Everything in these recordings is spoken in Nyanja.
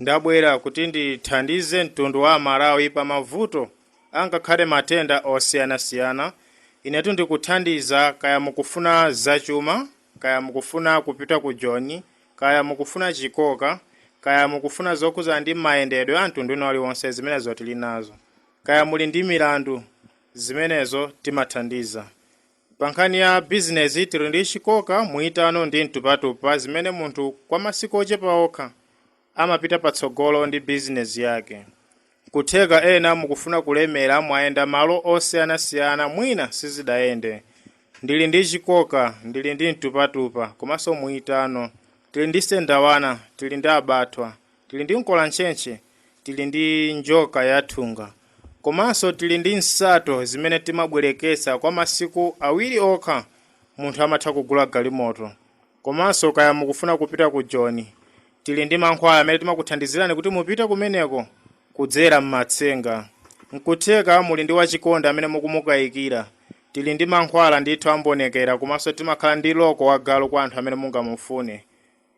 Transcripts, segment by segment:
Ndabwera kuti ndithandize mtundu wa Amalawi pa mavuto angakhale matenda osiyanasiyana. Inetu ndikuthandiza kaya mukufuna zachuma, kaya mukufuna kupita ku Joni, kaya mukufuna chikoka, kaya mukufuna zokhudzana ndi mayendedwe a mtundu wina uliwonse zimenezo tilinazo. Kaya muli ndi milandu, zimenezo timathandiza. Pankhani ya bizinezi, tili ndi chikoka, muyitano ndi mtupatupa zimene munthu kwa masiku ochepa okha amapita patsogolo ndi bizinezi yake. Nkutheka ena mukufuna kulemera mwayenda malo osiyanasiyana mwina sizidayende. Ndili ndi chikoka, ndili ndi mtupatupa komanso muyitano. Tili ndi sendawana, tili ndi abathwa. Tili ndi mkolantchentche, tili ndi njoka yathunga, komanso tili ndi nsato zimene timabwereketsa kwa masiku awiri okha munthu amatha kugula galimoto. Komanso kaya mukufuna kupita ku Joni, tili ndi mankhwala amene timakuthandizirani kuti mupite kumeneko kudzera m'matsenga. Nkutheka muli ndi wachikondi amene mukumukayikira, tili ndi mankhwala ndithu ambonekera komanso timakhala ndi loko wagalu kwa anthu amene mungamufune.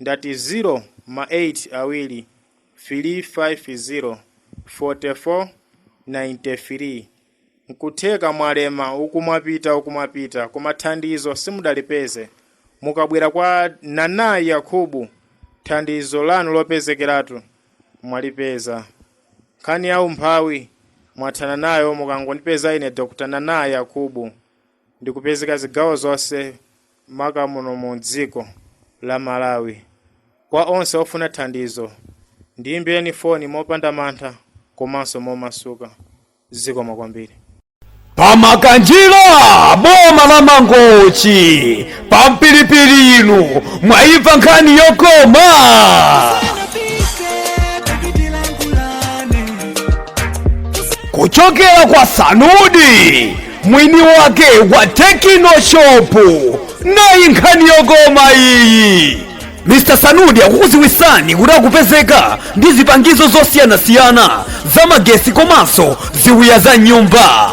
Ndati zero ma 8 awili filii 5 zero 44 90 filii nkutheka mwalema, uku mwapita uku mwapita koma thandizo simudalipeze mukabwera kwa Nana Yakubu thandizo lanu lopezekeratu mwalipeza nkhani ya umphawi mwathana nayo mukangondipeza ine Dr Nana Yakubu. ndikupezeka zigawo zonse maka muno mu dziko la Malawi. Kwa onse ofuna thandizo, ndiyimbireni foni mopanda mantha komanso momasuka. Zikomo kwambiri. Pa Makanjira boma la Mangochi pa Mpilipili inu mwaimva nkhani yokoma kuchokera kwa Sanudi mwini wake wa Tekino Shopu nayi nkhani yokoma iyi Mr Sanudi akukuziwisani kuti akupezeka ndi zipangizo zosiyanasiyana za magesi komanso ziwiya za m'nyumba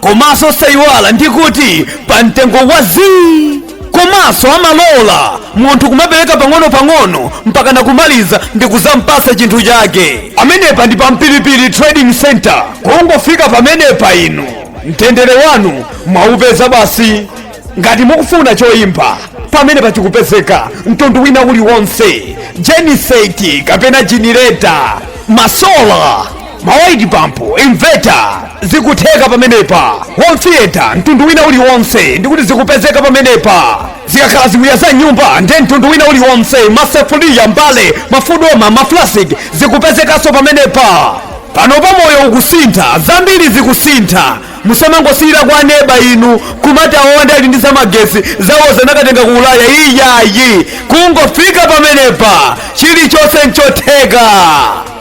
komanso osayiwala ndi kuti pa mtengo wa zii komanso amalola munthu kumapereka pang'ono-pang'ono mpaka nakumaliza ndi kuzampasa chinthu chake amenepa ndi pa Mpilipili trading center kungofika pamenepa inu mtendere wanu mwaupeza basi ngati mukufuna choimba pamenepa chikupezeka mtundu wina uliwonse jeniseti kapena jenereta masola malaiti pampu inveta zikutheka pamenepa home theater mtundu wina uliwonse ndi kuti zikupezeka pamenepa zikakhala ziwiya za m'nyumba nde mtundu wina uliwonse masefuliya mbale mafudoma maflasik zikupezekanso pamenepa pano pa moyo ukusintha zambiri zikusintha musamangosiyira kwa neba inu kumati aonde ali ndi zamagesi zawo zanakatenga ku ulaya iyayi kungofika pamenepa chilichonse nchotheka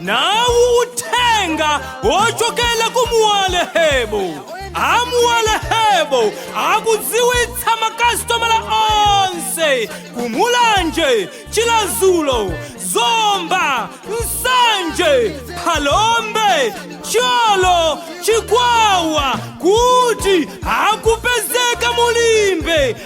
nawu uthenga wochokera ku muwalehebo amuwalehebo akudziwitsa makasitomala onse kumulanje chiradzulu zomba nsanje phalombe thyolo chikwawa kuti akupezeka mulimbe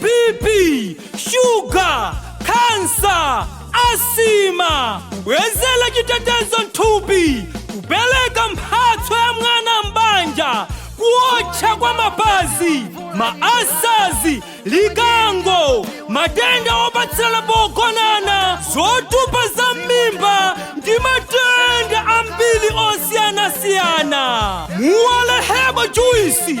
bp shuga khansa asima kubwezera chitetezo mthupi kupereka mphatso ya mwana m'banja kuotcha kwa mapazi mawu asazi likango matenda opatsirana pogonana zotupa za m'mimba ndi matenda ambiri osiyanasiyana muwalehebo juisi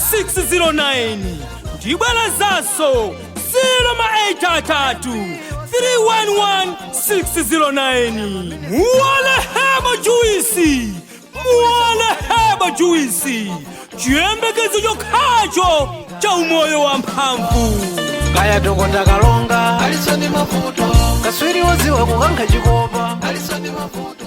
311609 ndibwerezanso 088 311609 muwalehebo juisi muwalehebo juisi chiyembekezo chokhacho cha umoyo wa mphamvu kaya dokota kalonga alisoni mavuto kaswiri woziwa kukankha chikopa alisoni mavuto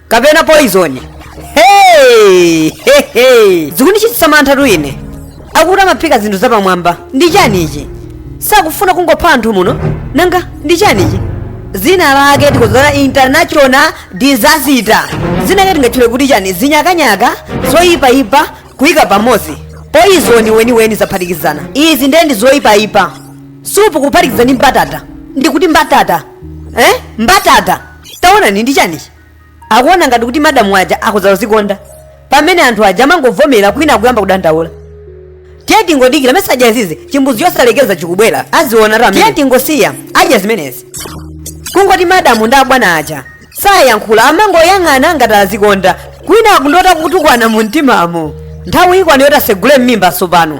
kapena poizoni hey! hey, hey. zikundichititsa mantha tu ine akuti amaphika zinthu zapamwamba ndi chani ichi sakufuna kungopha anthu muno nanga ndi chani ichi dzina lake tikuzana international disaster dzina lake tingatchule kuti chani zinyakanyaka zoyipayipa kuyika pamodzi poizoni weniweni zaphatikizana izi ndiye ndi zoyipayipa supu kuphatikiza ndi mbatata ndikuti mbatata eh? mbatata taonani ndi chanichi akuona ngati kuti madamu aja akhoza kuzikonda pamene anthu aja amangovomera kwina akuyamba kudandaula tiye tingodikira mesa adya izi chimbuzi chosalekeza chikubwera aziona ra tiye tingosiya adya zimenezi kungoti madamu ndi abwana aja sayankhula amangoyang'ana ngati azikonda kwina akundota kutukwana mu mtimamo nthawi ikwana yoti asegule m'mimba tsopano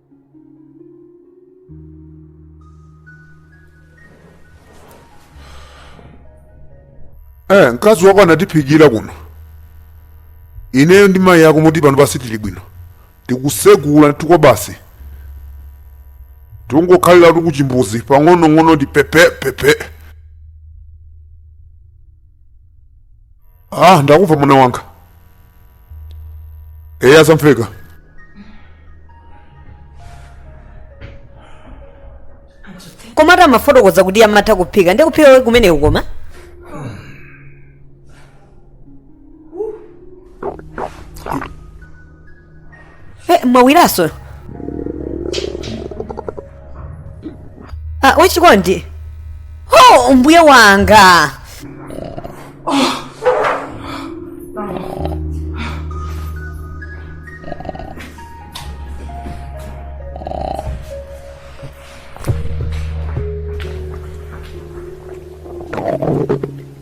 eh mkazi wako anatiphikira kuno ineyo ndi mayi ako moti pano sitili bwino tikusegula ntikwa basi tikungokhalira kuchimbuzi pang'onong'ono ndi pepe pepe ah ndakumva mwana wanga eyi azamveka koma ati amafotokoza kuti amatha kuphika ndi kuphika kwake kumeneku koma Eh, mwawiraso ah, wachikondi oh, mbuye wanga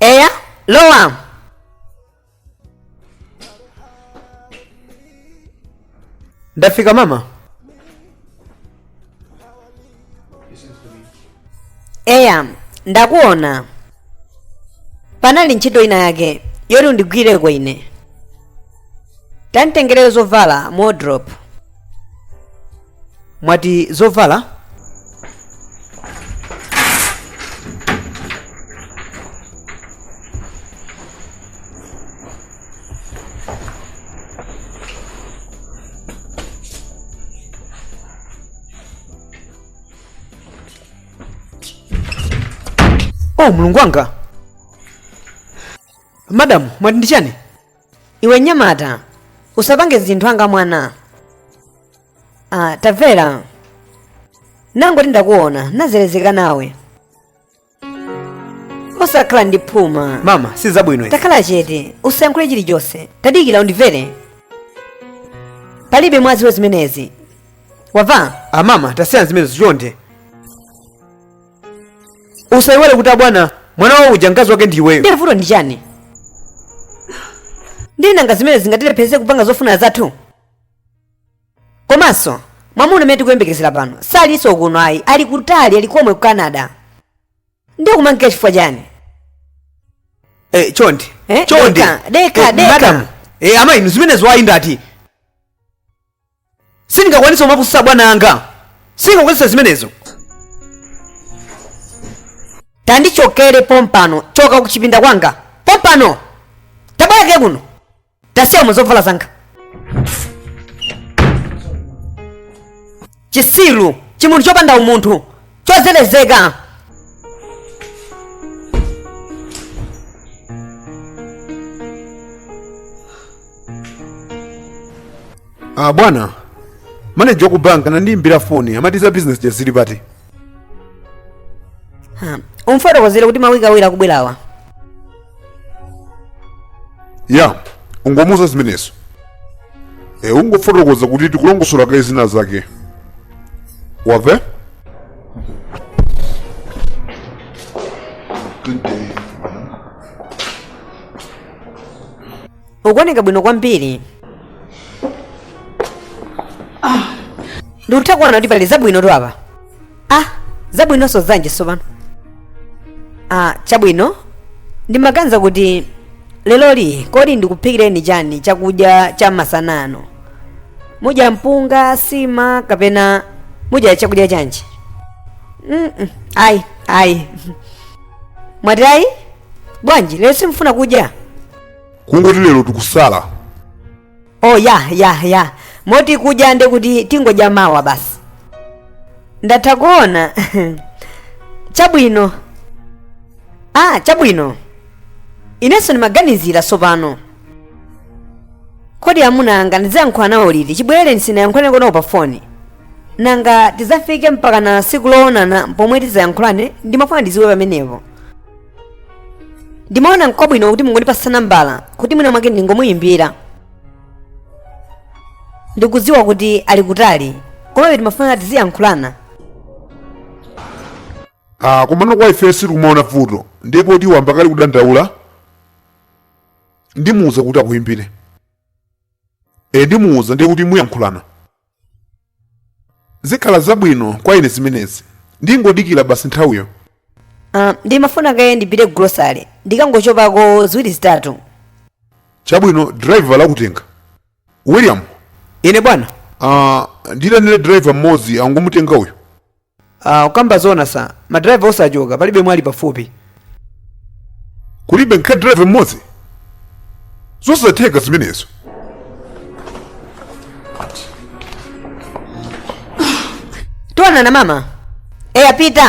eya lowa ndafika mama eya ndakuona panali ntchito ina yake yoti undigwireko ine tanditengerere zovala mu wardrobe mwati zovala oh mulungu wanga madamu mwati ndi chani iwe mnyamata usapange zinthu ngati mwana ah, tamvera ndangoti ndakuona ndazerezeka nawe osakhala ndi phuma mama si zabwino izi takhala chete usayankhule chilichonse tadikira undimvere palibe angadziwe zimenezi wamva ah mama tasiyani zimenezi chonde usayiwale kuti abwana mwana wawo uja mkazi wake ndi iweyo ndiye vuto ndi chani ndiye nanga zimene zingatilepheretse kupanga zofuna zathu komanso mwamuna amene tikuyembekezera pano salinso kuno ayi ali kutali ali komwe ku canada ndiye kumangika chifukwa chani Eh, chonde Eh, chonde deka, deka, Eh, deka. madam eh, amayi inu zimenezo ayi ndati sindingakwanise kumapusa bwana anga sindingakwanise zimenezo tandichokere pompano choka kuchipinda kwanga pompano tabwerako kuno tasiyanso zovala zanga chitsiru chimunthu chopanda umunthu chozerezeka Ah, bwana maneja waku bank anandiimbira foni amati za business jazili pati Ha, umfotokozere kuti mawiki awiri akubwerawa ya ungomuza zimenezo e, ungofotokoza kuti tikulongosola kaye zina zake wamva ukuoneka bwino kwambiri ndikutha kuona kuti pali zabwino tu apa ah zabwinonso zanji sopano ah chabwino ndimaganiza kuti leloli kodi ndikuphikireni chani chakudya cha masana ano mudya mpunga nsima kapena mudya chakudya chanji Mm, mm, ayi ayi mwati ayi bwanji lero simfuna kudya kungoti lero tukusala oh ya ya ya moti kudya nde kuti tingodya mawa basi ndatha kuona chabwino ah chabwino inenso ndimaganizira tsopano kodi amuna anga ndizayankhula nawo liti chibwereni sinayankhulane nawo pa foni nanga tizafike mpakana tsiku loonana pomwe tizayankhulane ndimafuna ndiziwe pamenepo ndimaona nkwabwino kuti mungondipasa nambala kuti mwina mwake ndingomuyimbira ndikudziwa kuti ali kutali komabe timafuna tiziyankhulana ah, komano kwa ife sitikumaona vuto ndipo tiwambaka ali kudandaula ndimuuza kuti akuyimbire e ndimuuza ndiye kuti muyankhulane zikhala zabwino kwa ine zimenezi ndingodikira basi nthawiyo Ah, ndimafuna kaye ndipite grocery ndikangochopako ziwiri zitatu chabwino driver akutenga william ine bwana uh, nditanire driver mmodzi angomutenga uyu Ah, ukamba zona sa madriver onse achoka palibe amene ali pafupi kulibe nkha driver mmodzi zosatheka zimenezo tionana mama eya pita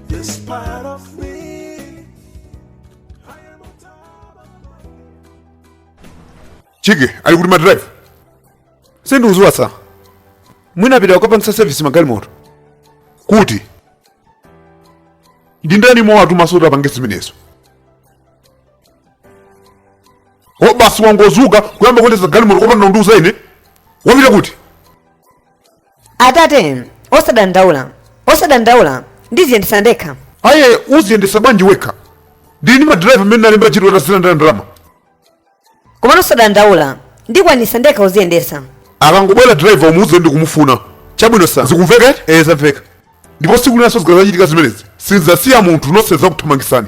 chiki ali kuti madriver sindikuziwa sa mwina apita kukapangisa service magalimoto kuti ndi ndani wawatuma so kuti apange zimenezo o basi wangozuka kuyamba kuendesa galimoto kopanda kundiuza ine wapita kuti atate osadandaula osadandaula ndiziyendesa ndekha aye uziyendesa bwanji wekha ndili ndi madrayiva amene nalemba ntchito akuzilandira ndalama komano osadandaula ndikwanisa ndekha uziyendesa akangobwera driver umuuze ndikumufuna chabwino sa zikumveka eti ee zamveka ndipo siku linanso zikazachitikanso zimenezi sinzasiya munthu nonse zakuthamangisani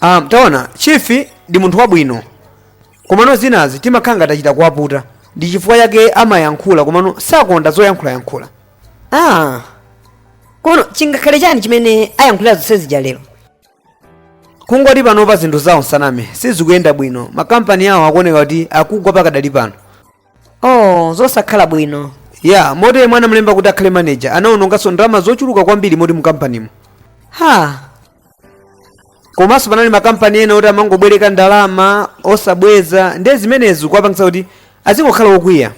Ah, taona chief ndi munthu wabwino komano zinazi timakhala ngati achita kuwaputa ndi chifukwa chake amayankhula komano sakonda zoyankhulayankhula ah komano chingakhale chani chimene ayankhulira zonse zija lero kungoti panopa zinthu zawo nsaname sizikuyenda bwino makampani awo akuoneka kuti akugwa pakadali pano oh zosakhala bwino ya moti yemwe anamulemba kuti akhale maneja anaononganso ndalama zochuluka kwambiri moti mukampanimo ha komanso panali makampani ena oti amangobwereka ndalama osabweza ndiye zimenezo zikuwapangitsa kuti azingokhala wokwiya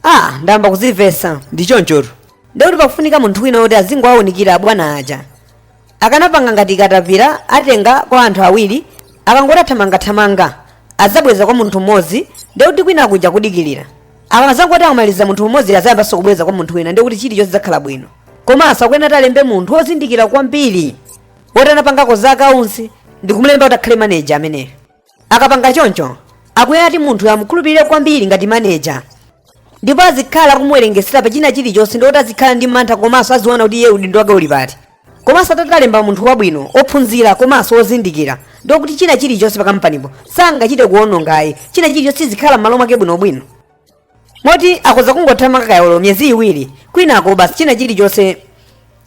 ah ndayamba kuzimvetsa ndi chonchotu ndiye kuti pakufunika munthu wina woti azingowaunikira abwana aja akanapanga ngati katapira atenga kwa anthu awiri akangoti athamangathamanga adzabweza kwa munthu mmodzi ndekuti kwina kuja kudikilira akazangoti akamaliza munthu mmodzi azayambanso kubweza kwa munthu wina ndekuti chilichonse chidzakhala bwino komanso akuyenera kuti alembe munthu wozindikira kwambiri woti anapangako za akaunsi ndi kumulemba kuti akhale maneja ameneyo akapanga choncho akuyenera kuti munthu amukhulupirire kwambiri ngati maneja ndipo azikhala akumuwerengesera pa china chilichonse ndiye kuti azikhala ndi mantha komanso aziona kuti iye udindo wake uli pati komanso atatalemba munthu wabwino ophunzira komanso ozindikira ndiye kuti china chilichonse pakampanipo sangachite kuonongayi china chilichonse chizikhala m'malo mwake bwinobwino moti akhoza kungothamanga kaye olo miyezi iwiri kwinako basi china chilichonse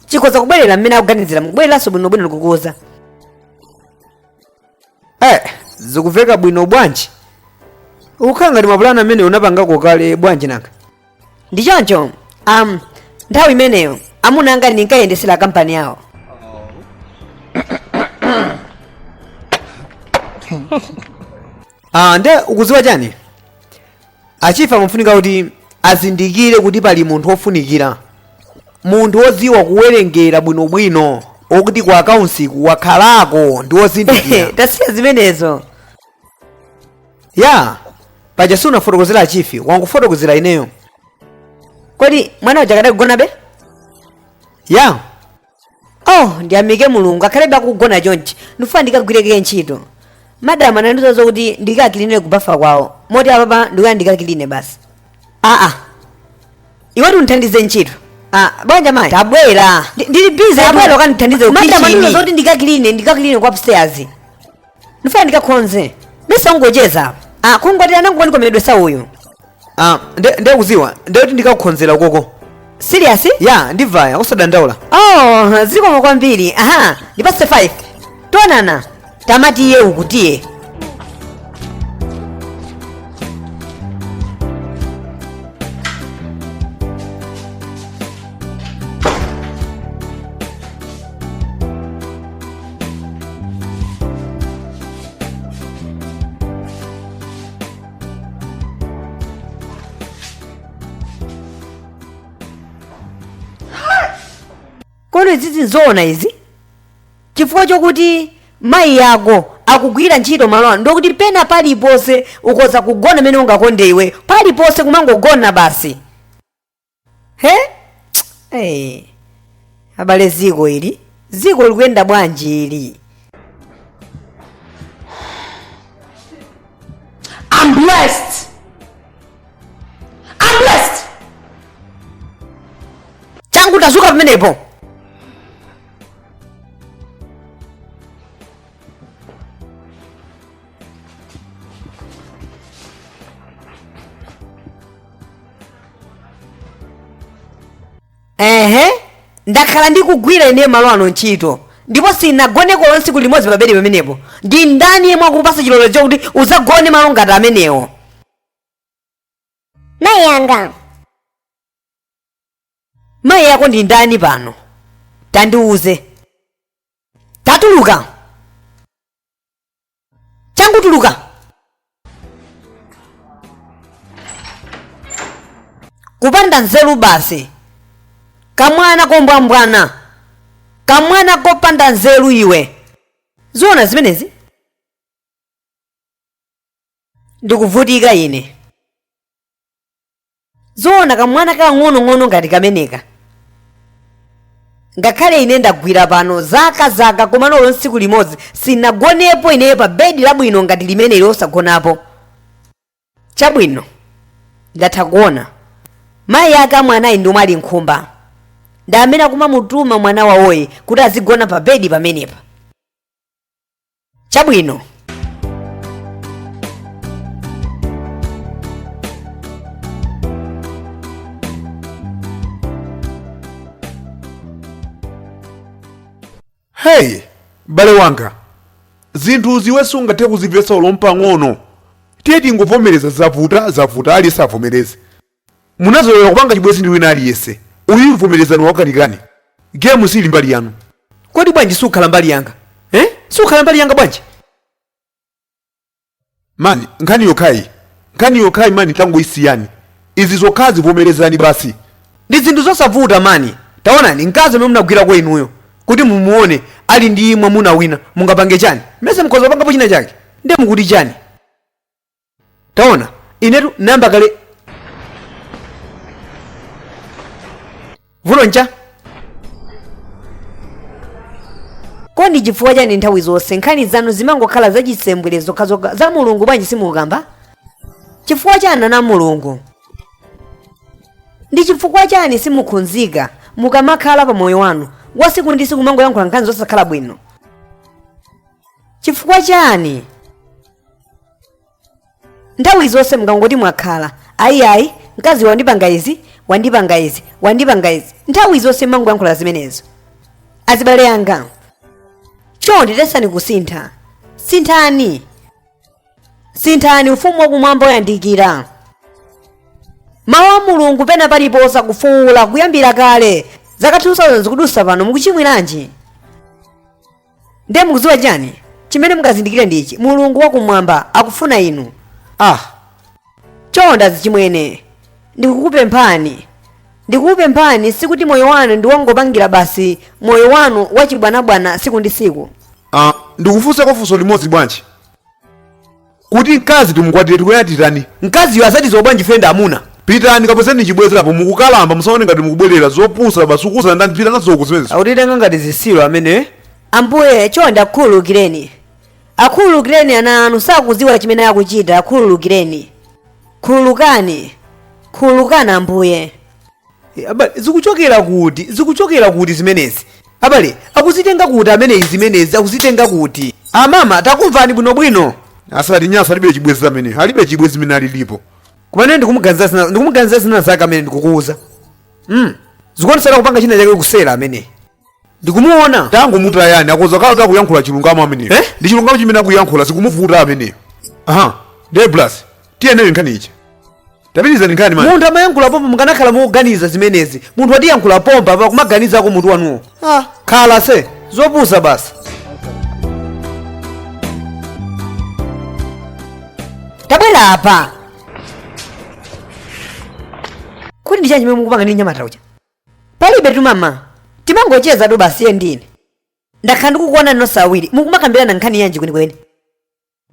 chikhoza kubwerera mmene akuganizira mukubwereranso bwinobwino ndikukuuza Eh, zikuveka bwino bwanji ukukhala ngati mapulani amenewo unapangako kale bwanji nanga ndi choncho um, nthawi imeneyo amuna anga ndinkayendesera kampani yawo ah, nde ukuziwa chani Achifi amafunika kuti azindikire kuti pali munthu wofunikira, munthu wodziwa kuwerengera bwinobwino, wokuti ku akaunsiku wakhalako ndi wozindikira. tasiya zimenezo ya paja sunafotokozere achifi wangofotokozera ineyo kodi mwana uja akadakugonabe ya oh ndiyamike mulungu akhalebe akugona chonchi ndifuna ndikagwireke ntchito madamu anandiuza zokuti ndikakiline kubafa kwawo moti apapa ndiye ndikakiline basi aa iwetu undithandize ntchito Ah, bwanji mayi tabwera Ndi- ndili bize tabwera ukandithandize madamu anandiuza kukitchini zoti ndikakiline ndikakiline ku upstairs ndifuna ndikakhonze osangocheza ah, kungoti anangokanika mercedes uyu ah, nde nde kuziwa nde kuti ndikakukhonzera ukoko serious ya ndivaya usadandaula oh zikomo kwambiri aha ndipase 5 tionana tamati iye ukutiye kodi izizi nzoona izi chifukwa chokuti mayi yako akugwira ntchito malo ano ndokuti pena paliponse ukoza kugona m'mene ungakonde iwe paliponse kumangogona basi he hey. abale dziko ili dziko likuyenda bwanji ili I'm blessed. I'm blessed. changu tazuka pamenepo ehe ndakhala ndikugwira ine malo ano ntchito ndipo sinagone olo tsiku limodzi pabedi pamenepo ndi ndani yemwe wakupasa chilolezo chakuti uzagone malo ngati amenewo mayi anga mayi ako ndi ndani pano tandiuze tatuluka changu tuluka kupanda nzeru basi kamwana kombwambwana kamwana kopanda nzeru iwe zoona zimenezi ndikuvutika ine zoona kamwana kakang'onong'ono ngati kameneka ngakhale ine ndagwira pano zaka zaka koma olo tsiku limodzi sinagonepo ineyo pa bedi labwino ngati limeneli osagonapo chabwino ndatha kuona mayi ake a mwanayu ndi omwe ali nkhumba ndi amene akumamutuma mwana wawoyu kuti azigona pa bedi pamenepa chabwino heyi m'bale wanga zinthu izi iwe sungathe kuzimvetsa olo mpang'ono tiye tingovomereza kuti zavuta zavuta ali savomereze munazolowera kupanga chibwenzi ndi wina aliyense uyu vomerezani wakanikani gemu sili mbali yanu kodi bwanji sukhala mbali yanga eh? sukhala mbali yanga bwanji mani nkhani yokhayi nkhani yokhayi mani tangoyisiyani izi zokhazi vomerezani basi ndi zinthu zosavuta mani taonani mkazi amene munagwira kwa inuyo kuti mumuone ali ndi mwamuna wina mungapange chani mesa mukhoza kupangapo china chake ndiye mukuti chani taona inetu nayamba kale vuto nchani kodi chifukwa chani nthawi zonse nkhani zanu zimangokhala zachisembwere zokhazokha za mulungu bwanji simukamba chifukwa chani ana mulungu ndi chifukwa chani simukhudzika mukamakhala pa moyo wanu wasiku ndi siku mangoyankhula nkhani zosakhala bwino chifukwa chani nthawi zonse mukangoti mwakhala ayiayi mkazi wandipanga izi wandipanga izi wandipanga izi nthawi zonse mangoyankhula zimenezo azibale anga chonde yesani kusintha sinthani sinthani ufumu wakumwamba wayandikira mawu a mulungu pena paliponse akufuwula kuyambira kale zaka 2000 zikudusa pano mukuchimwiranji ndiye mukudziwa chani chimene mukazindikire ndi ichi mulungu wakumwamba akufuna inu ah chonde azichimwene ndikukupemphani ndikukupemphani sikuti moyo wanu ndi wongopangira basi moyo wanu wachibwanabwana siku ndi siku Ah, ndikufunsako funso limodzi bwanji Kuti mkazi timukwatire tikuyenera titani? Mkaziyo azatiziwa bwanji ife ndi amuna? Pitani kapezeni chibwezi apo mukukalamba musaone ngati mukubwerera zopusa basi ukuwuza ndani pita nazo uku zimenezo. Akutitenga ngati zisiru amene. Ambuye, chonde akhululukireni. Akhululukireni ana anu sakudziwa chimene akuchita, akhululukireni. Khululukani. Khululukani Ambuye. Eh, abale zikuchokera kuti zikuchokera kuti zimenezi abale akuzitenga kuti ameneyi zimenezi akuzitenga kuti amama takumvani bwinobwino asati nyaso alibe chibwezi ameneyo alibe chibwezi amene alilipo koma ine ndikumuganiza zina ndikumuganiza zina zake amene ndikukuuza mm. zikuonetsera kupanga china chake kuseri ameneyi ndikumuona tangomutayani akhoza kukhala akuyankhula chilungamo ameneyo Eh? ndi chilungamo chimene akuyankhula zikumuvuta ameneyo aha ndiye blas tiyeni nayo nkhani iyi tapitizani nkhani mani munthu amayankhula pompa mukanakhala mukuganiza zimenezi munthu watiyankhula pompa apa kumaganizako mutu wanuwo ah, khala se zopusa basi tabwera apa kodi ndi chani chimene mukupanga ndi nyamata uja Palibetu amama, timangocheza tu basi iye ndi ine. Ndakhala ndikukuonani nonse awiri, mukumakambirana nkhani yanji kwenikweni?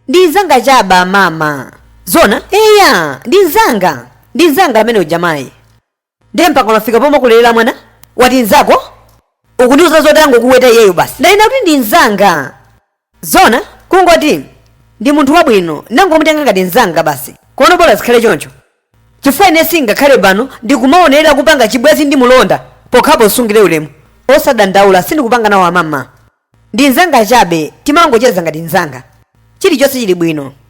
Ndi mzanga chabe amama. Zona? Eya, ndi mzanga. Ndi mzanga amene uja mayi. Ndiye mpaka unafika pomwe kulera mwana? Wati mzako? Ukundiuza zoti angokuweta iyeyo basi. Ndanena kuti ndi mzanga. Zoona kungoti ndi munthu wabwino ndangomutenga ngati mzanga basi komano bola zikhale choncho chifukwa ine sindingakhale pano ndikumaonerera kupanga chibwezi ndi mulonda pokhapo umsungire ulemu osadandaula sindikupanga nawo amama ndi mzanga chabe timangocheza ngati mzanga chilichonse chili bwino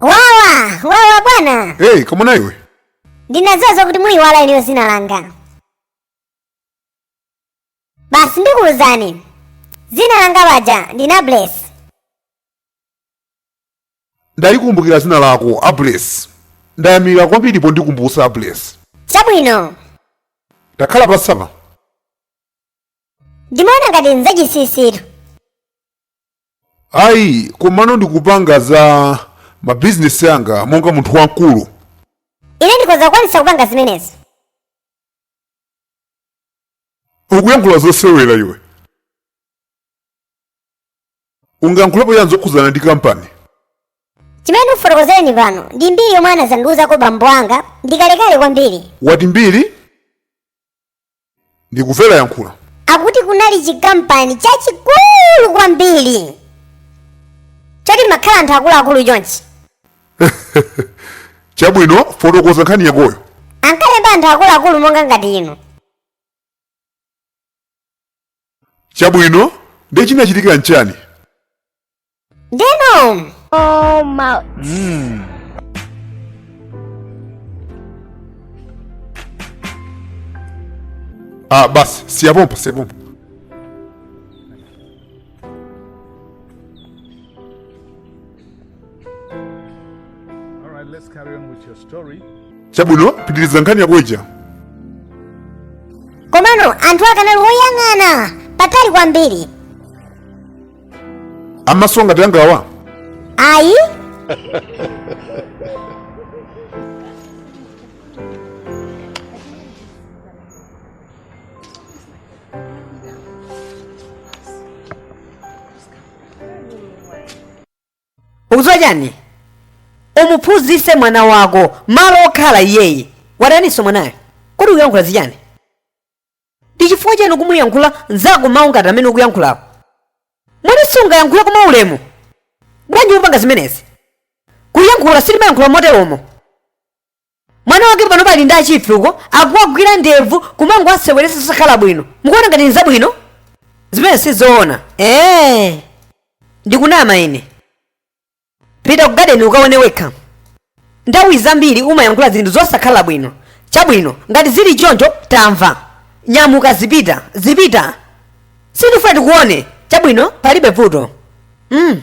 wawa wawa bwana hey koma na iwe ndinadziwa zakuti muyiwala inuyo dzina langa basi ndikuwuzani dzina langa paja ndine Bless ndalikumbukira dzina lako a Bless ndayamika kwambiri pondikumbutsa a Bless chabwino takhala pasapa ndimaona ngati nzachisisitu Ayi, komano ndikupanga za mabizinesi anga monga munthu wamkulu. Ine ndikhoza kukwanitsa kupanga zimenezo. Ukuyankhula zosewera iwe. Ungayankhulepo chani zokhudzana ndi kampani? Chimene ndikufotokozereni pano ndi mbiri yomwe anadzandiuzako bambo anga ndi kalekale kwambiri. Wati mbiri? ndikumvera yankhula akuti kunali chikampani chachikulu kwambiri choti mumakhala anthu akuluakulu chonchi chabwino fotokoza nkhani yakoyo ankalemba anthu akuluakulu monga ngati inu chabwino ndiye chinachitika nchani Denom! Oh, mouth. Mmm. Ah, basi, siya pompo, siya pompo. Chabwino, pitiliza nkhani yako ija. Komano, anthu ake anali woyang'ana patali kwambiri amaso ngati angawa ayi ukudziwa chani umuphunzitse mwana wako malo okhala iyeyu wataninso mwanayo kodi ukuyankhula za chani ndi chifukwa chani ukumuyankhula nzako mawu ngati amene ukuyankhulawo moti sungayankhule mwaulemu bwanji ukupanga zimenezi kuyankhula sitimayankhula moteromo mwana wake pano pali ndi achifi uko akuwagwira ndevu kumangowaseweresa osakhala bwino mukuona ngati ni zabwino zimene sizoona ee ndikunama ine pita ku gadeni ukaone wekha nthawi zambiri umayankhula zinthu zosakhala bwino chabwino ngati zili choncho tamva nyamuka zipita zipita sindifuna ndikuone chabwino palibe vuto mm.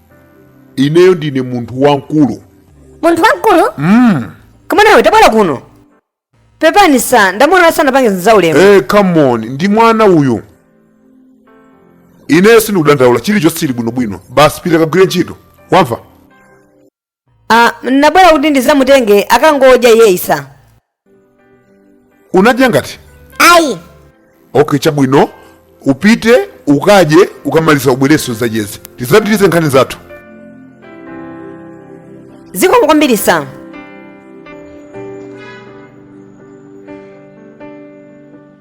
ineyo ndine munthu wamkulu munthu wamkulu mm. koma iwe tabwera kuno pepani sa ndamuona asanapange zaulemu hey, eh, come on ndi mwana uyu ineyo sindikudandaula chilichonse chili bwinobwino basi pita kagwire ntchito wamva Ah, nabwera kuti ndizamutenge akangodya yes sa. sunadye eti ayi okay chabwino upite ukadye ukamaliza ubwerenso tizacheze tizapitirize nkhani zathu Zikomo kwambiri sa.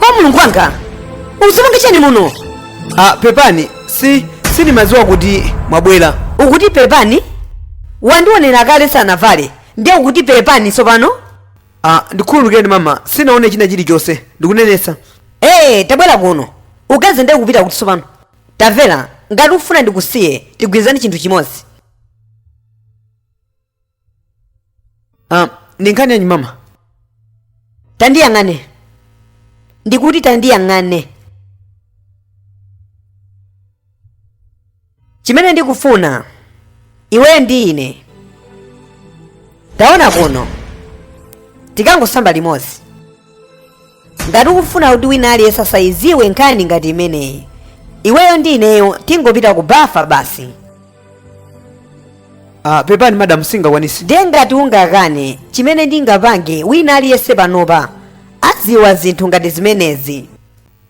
oh mulungu wanga ukupanga chani muno ah, pepani si sindimadziwa kuti mwabwera ukuti pepani wandionera kale ndisanavale ndiye ukuti pepani tsopano ah, ndikhululukireni mama sinaone china chilichonse ndikunenesa ee tabwera kuno ukathawe ndiye ukupita kuti tsopano Tamvera, ngati ukufuna ndikusiye, tigwirizane chinthu chimodzi. Ah, ndi nkhani yanji mama? Tandiyang'ane. Ndikuti tandiyang'ane. Chimene ndikufuna iweyo ndi ine taona kuno tikangosamba limodzi ngati ukufuna kuti wina aliyense asayiziwe nkhani ngati imeneyi iweyo ndi ineyo tingopita ku bafa basi ah, pepani madam sindingakwanise ndiye ngati ungakane chimene ndingapange wina aliyense panopa adziwa zinthu ngati zimenezi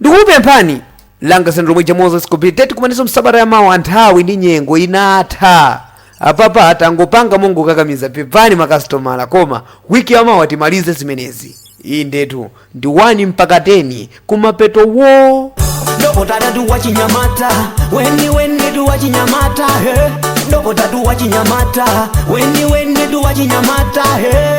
ndikupemphani anga zilomwe ja moses tikumanenso msabata ya mawa nthawi ndi nyengo inatha apapa tangopanga mongokakamiza pepani makasitomala koma wiki ya mawa timalize zimenezi iyi ndetu ndi 1 mpaka 10 kumapeto wo dokotalatu wachinyamata weniweni tu wachinyamata he dokotatu wachinyamata weniweni tu wachinyamata he